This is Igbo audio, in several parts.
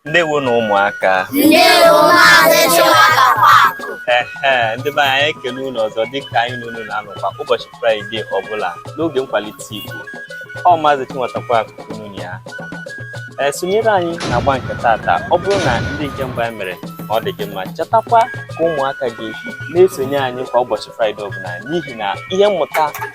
ndewo nụ ụmụaka ndewo maazị Chinwata Kwakụ ndị be anyị anyị ekele unu ọzọ dịka anyị na unu na-anọkwa ụbọchị fraịde ọbụla n'oge nkwalite igbo ọ maazị Chinwata Kwakụ ka unu na ya ee sonyere anyị na agba nke tata ọ bụrụ na ndị nke mbụ anyị mere na ọ dị gị mma chetakwa ka ụmụaka gị na-esonye anyị kwa ụbọchị fraịde ọbụla n'ihi na ihe mmụta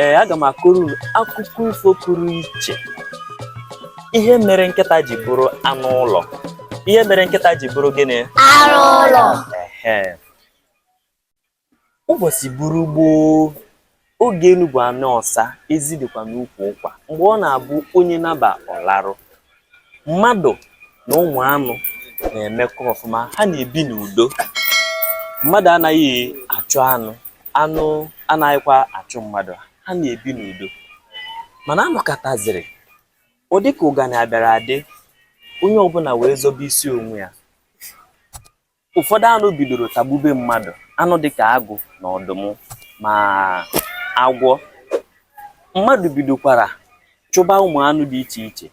ee aga m akọrọ unu akụkọ ifo pụrụ iche ihe mere nkịta ji bụrụ anụ ụlọ ihe mere nkịta ji bụrụ gịnị anụ ụlọ ehe ụbọchị buru gboo oge elu bụ ala ọsa ezi dịkwa n'ukwu ụkwa mgbe ọ na-abụ onye naba ọ laru mmadụ na ụmụ anụ na-emekọ ọfụma ha na-ebi n'udo mmadụ anaghị achụ anụ anụ anaghịkwa achụ mmadụ ha na-ebi n'udo mana a nọkataziri ọ dịka ụganị abịara adị onye ọbụla wee zọbe isi onwe ya Ụfọdụ anụ bidoro tagbube mmadụ, anụ dịka agụ na ọdụm ma agwọ. Mmadụ bidokwara chụba ụmụ anụ dị iche iche.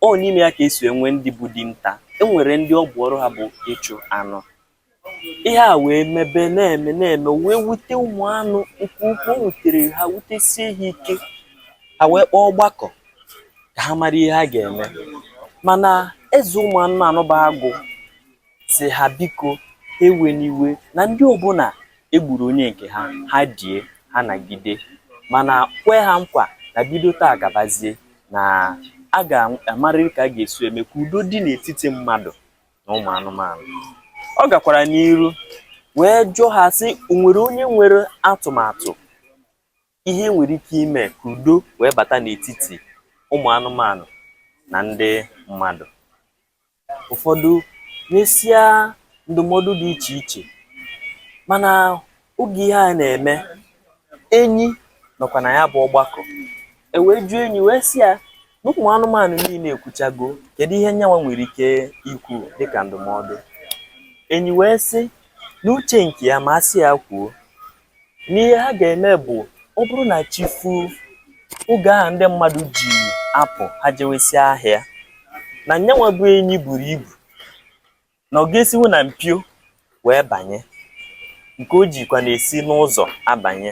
Ọ n'ime ya ka e si enwe ndị bụ dinta. E nwere ndị ọ bụ ọrụ ha bụ ịchụ anụ. Ihe a wee mebe na-eme na-eme wee wute ụmụ anụ nke ukwuu. O wutere ha wutesie ha ike. Ha wee kpọọ ọgbakọ ka ha mara ihe ha ga-eme. Mana eze ụmụ anụmanụ bụ agụ sị ha biko ewena iwe na ndị ọbụla e gburu onye nke ha ha die ha nagide mana kwe ha nkwa na bido taa gabazie na a ga-amarịrị ka a ga-esi eme ka udo dị n'etiti mmadụ na ụmụ anụmanụ ọ gakwara n'iru wee jụọ ha sị o nwere onye nwere atụmatụ ihe e nwere ike ime ka udo wee bata n'etiti ụmụ anụmanụ na ndị mmadụ ụfọdụ nyesịa ndụmọdụ dị iche iche mana oge ihe a na-eme enyi nọkwa na ya bụ ọgbakọ e wee jụọ enyi wee sị ya na ụmụ anụmanụ niile ekwuchago kedu ihe nyanwa nwere ike ikwu dịka ndụmọdụ enyi wee sị na uche nke ya ma a sị ya kwuo na ihe ha ga-eme bụ ọ bụrụ na chi fuo oge ahụ ndị mmadụ ji apụ ha jewesịa ahịa na nyanwa bụ enyi buru ibu na ọ ga-esinwu na mpio wee banye nke o jikwa na-esi n'ụzọ abanye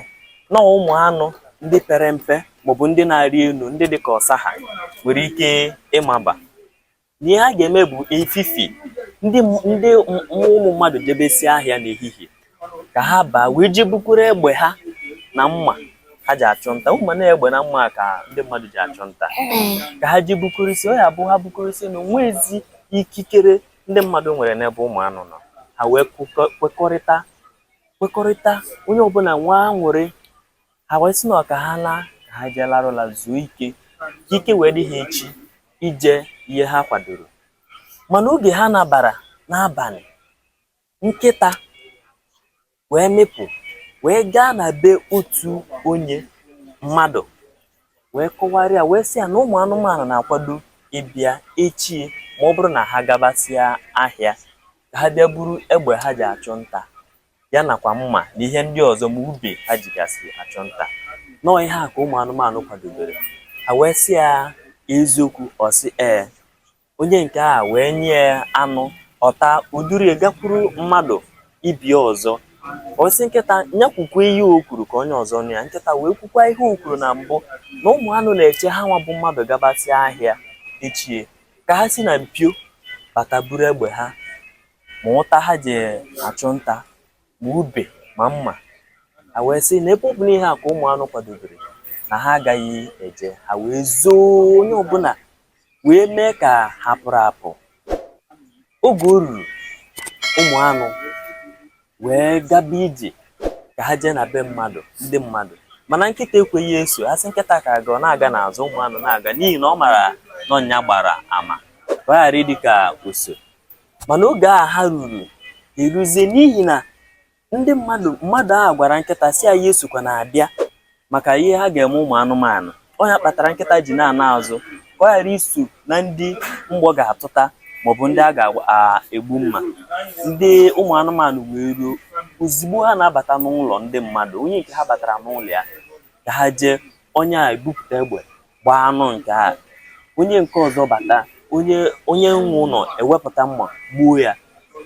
na ụmụ anụ ndị pere mpe maọbụ ndị na-arị elu ndị dị ka ọsa ha nwere ike ịmaba Ihe ha ga-eme bụ efifi ndị ndị ụmụ mmadụ jebesie ahịa n'ehihie ka ha baa wee jee bukuru egbe ha na mma ha ji achụ nta ị ma na egbe na mma ka ndị mmadụ ji achụ nta ka ha jee bukorisie ọ ya bụ ha bukorisie na o nwezi ikikere ndị mmadụ nwere n'ebe ụmụ anụ nọ ha wee kwekọrịta kwekọrịta onye ọbụla nwa aṅụrị ha wee sị na ka ha naa ka ha jee larụ ụla zuo ike ka ike wee dị ha echi ije ihe ha kwadoro mana oge ha nabara n'abalị nkịta wee mịpụ wee gaa na be otu onye mmadụ wee kọwara ya wee sị ya na ụmụ anụmanụ na-akwado ịbịa echi ma ọ bụrụ na ha gabasịa ahịa ka ha bịa buru egbe ha ji achụ nta ya nakwa mma na ihe ndị ọzọ ma ube ha jigasị achụ nta na ọ ihe a ka ụmụ anụmanụ kwadobere ha wee sị ya eziokwu ọ sị ee onye nke a wee nye ya anụ ọ taa o duru ya gakwuru mmadụ ibe ya ọzọ ọ sị nkịta ya kwukwa ihe o kwuru ka onye ọzọ nụ ya nkịta wee kwukwa ihe o kwuru na mbụ na ụmụ anụ na-eche ha nwa bụ mmadụ gabasịa ahịa echi ka ha si na mpio bata buru egbe ha ma ụta ha ji achụ nta ma ube ma mma ha wee sị na ebe ọ bụ na ihe a ka ụmụ anụ kwadobere na ha agaghị eje ha wee zoo onye ọbụla wee mee ka ha pụrụ apụ oge o ruru ụmụ anụ wee gaba ije ka ha jee na be mmadụ ndị mmadụ mana nkịta ekweghị eso ha sị nkịta ka a gaa ọ na-aga n'azụ ụmụ anụ na-aga n'ihi na ọ mara na ọ nya gbara ama ka ọ ghara ịdị ka o so mana oge a ha ruru eruzie n'ihi na ndị mmadụ mmadụ ahụ gwara nkịta sị ya ya esokwana abịa maka ihe ha ga-eme ụmụ anụmanụ ọ ya kpatara nkịta ji na-ana azụ ka ọ ghara iso na ndị mgbọ ga-atụta maọbụ ndị a ga-egbu mma ndị ụmụ anụmanụ wee ruo ozugbo ha na-abata n'ụlọ ndị mmadụ onye nke ha batara n'ụlọ ya ka ha jee onye a ebupụta egbe gbaa anụ nke a onye nke ọzọ bata onye onye nwe ụlọ ewepụta mma gbuo ya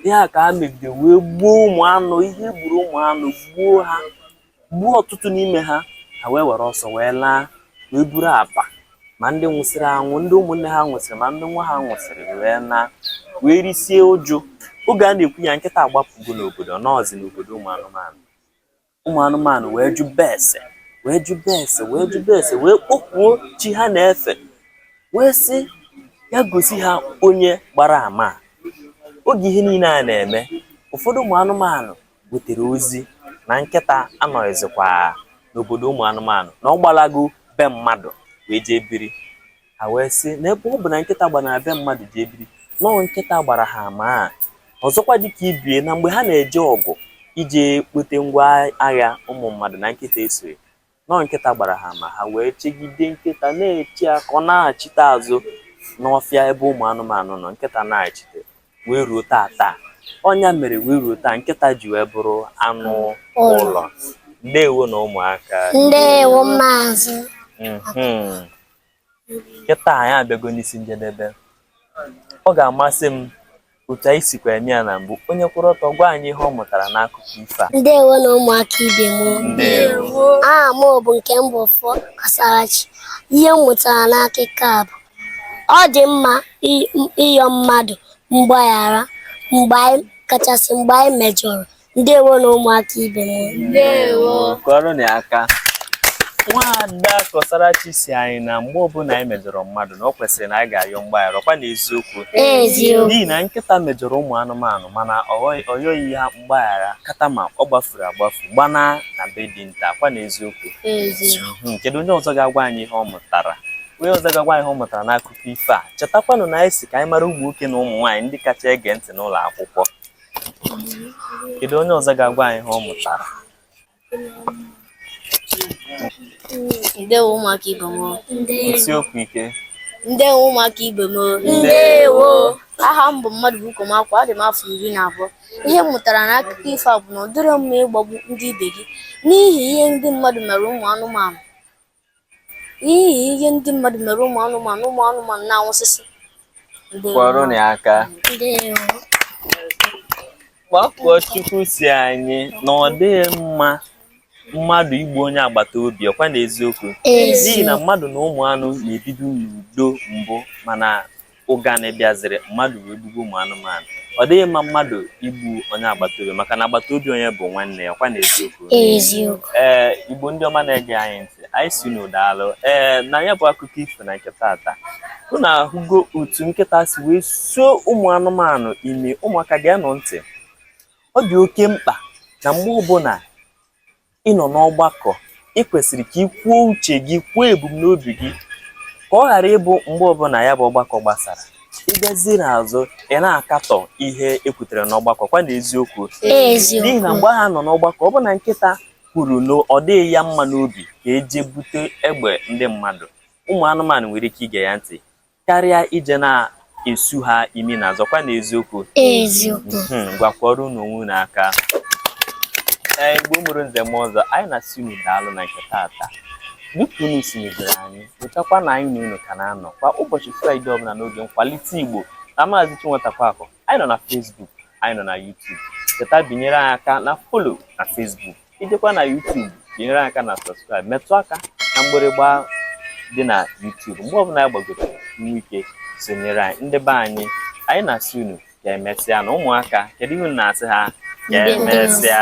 ihe a ka e megide wee gbuo ụmụ anụ ihe e gburu ụmụ anụ gbuo ha gbuo ọtụtụ n'ime ha ha wee were ọsọ wee laa wee buru akpa ma ndị nwụsịrị anwụ ndị ụmụnne ha nwụsịrị ma ndị nwa ha nwụsịrị wee naa wee risie uju oge a na-ekwu ya nkịta agbapụgo n'obodo nọọzi n'obodo ụmụ anụmanụ ụmụ anụmanụ wee jụba ese wee jụba ese wee jụba ese wee kpọkuo chi ha na-efe wee sị ya gosi ha onye gbara ama a. oge ihe niile a na-eme ụfọdụ ụmụ anụmanụ butere ozi na nkịta anọghịzikwa n'obodo ụmụ anụmanụ na ọ gbalago be mmadụ wee jee biri ha wee sị na ebe ọ bụ na nkịta gbara na be mmadụ jee biri na ọ nkịta gbara ha ama a ọzọkwa dịka ibe ya na mgbe ha na-eje ọgụ ije kpote ngwa agha ụmụ mmadụ na nkịta esoghị na ọ nkịta gbara ha ama ha wee chegide nkịta na-eche ya ka ọ nachite azụ n'ọfịa ebe ụmụ anụmanụ nọ nkịta anachiteghị wee ruo taa taa ọ nya mere wee ruo taa nkịta ji wee bụrụ anụ ụlọ ndewonụ ụmụaka ndewo maazị Mhm. kịta anyị abịago n'isi njedebe ọ ga-amasị m otu anyị sikwa mee ya na mbụ onye kwụrụ ọtọ gwa anyị ihe ọ mụtara n'akụkọ ifo a ndewonụ ụmụaka ibe m ndewo aha m bụ nke m bụ fọ Kọsarachi ihe m mụtara n'akụkọ a bụ ọ dị mma ịyọ mmadụ mgbaghara mgbe anyị kachasị mgbe anyị mejọrọ ndewonụ ụmụaka ibe m ndewo kụọrọnụ ya aka nwaada Kọsarachi sị anyị na mgbe ọbụla anyị mejọrọ mmadụ na ọ kwesịrị na anyị ga-ayọ mgbaghara ọkwa na eziokwu n'ihi na nkịta mejọrọ ụmụ anụmanụ mana ọ yọghị ha mgbaghara kata ma ọ gbafuru agbafu gbana na be dinta kwa na eziokwu hmm, kedu onye ọzọ ga-agwa anyị ihe ọ mụtara onye ọzọ ga-agwa anyị ihe ọ mụtara n'akụkọ ifo a chetakwanụ na anyị sị ka anyị mara ụmụ nwoke na ụmụ nwaanyị ndị kacha ege ntị n'ụlọ akwụkwọ kedu onye ọzọ ga-agwa anyị ihe ọ mụtara ndewo ụmụaka ibe m kwusie okwu ike ndewo ụmụaka ibe m ndewo aha m bụ Mmadụbuko Makụọ adị m afọ iri na abụọ ihe m mụtara na akụkọ ifo a bụ na ọ dịrọ mma ịgbagbu ndị ibe gị n'ihi ihe ndị mmadụ mere ụmụ anụmanụ n'ihi ihe ndị mmadụ mere ụmụ anụmanụ ụmụ anụmanụ na-anwụsịsị kụọrọnụ ya aka Makụọchukwu sị anyị na ọ dịghị mma mmadụ igbu onye agbata obi ọkwa na eziokwu n'ihi na mmadụ na ụmụ anụ na-ebibu n'udo mbụ mana ụganị bịaziri mmadụ wee gbugbuo ụmụ anụmanụ ọ dịghị mma mmadụ igbu onye agbata obi maka na agbata obi onye bụ nwanne ya kwa na eziokwu eziokwu ee igbo ndị ọma na-ege anyị ntị anyị sị unu daalụ ee na ya bụ akụkọ ifo na nke tata unu ahụgo otu nkịta si wee suo ụmụ anụmanụ imi ụmụaka geenụ ntị ọ dị oke mkpa na mgbe ọbụla ị nọ n'ọgbakọ i kwesịrị ka i kwuo uche gị kwuo ebumnobi gị ka ọ ghara ịbụ mgbe ọbụla ya bụ ọgbakọ gbasara ị bịazie n'azụ ị na-akatọ ihe e kwutere n'ọgbakọ kwa na eziokwu n'ihi na mgbe ha nọ n'ọgbakọ ọ bụ na nkịta kwuru na ọ dịghị ya mma n'obi ka e jee bute egbe ndị mmadụ ụmụ anụmanụ nwere ike ige ya ntị Karịa ije na-esu ha imi n'azụ ọkwa na eziokwu. Eziokwu. Hmm, ngwa kụọrọnụ onwe unu aka. Ee, Igbo mụrụ nze mụọ ọzọ, anyị na-asị unu daalụ na nke taata. Dịka unu si mebere anyị, chetakwa na anyị na unu ka na-anọ kwa ụbọchị Fraịde ọbụla n'oge nkwalite Igbo na Maazị Chinwetakwakọ. Anyị nọ na Facebook, anyị nọ na YouTube. Cheta binyere anyị aka na follow na Facebook. ị jekwa na YouTube binyere anyị aka na subscribe metụ aka na mgbịrịgba dị na YouTube mgbe ọbụla anyị gbagoro ị nwee ike sonyere anyị ndị be anyị anyị na-asị unu ka emesịanụ ụmụaka kedu ihe unu na-asị ha ka emesịa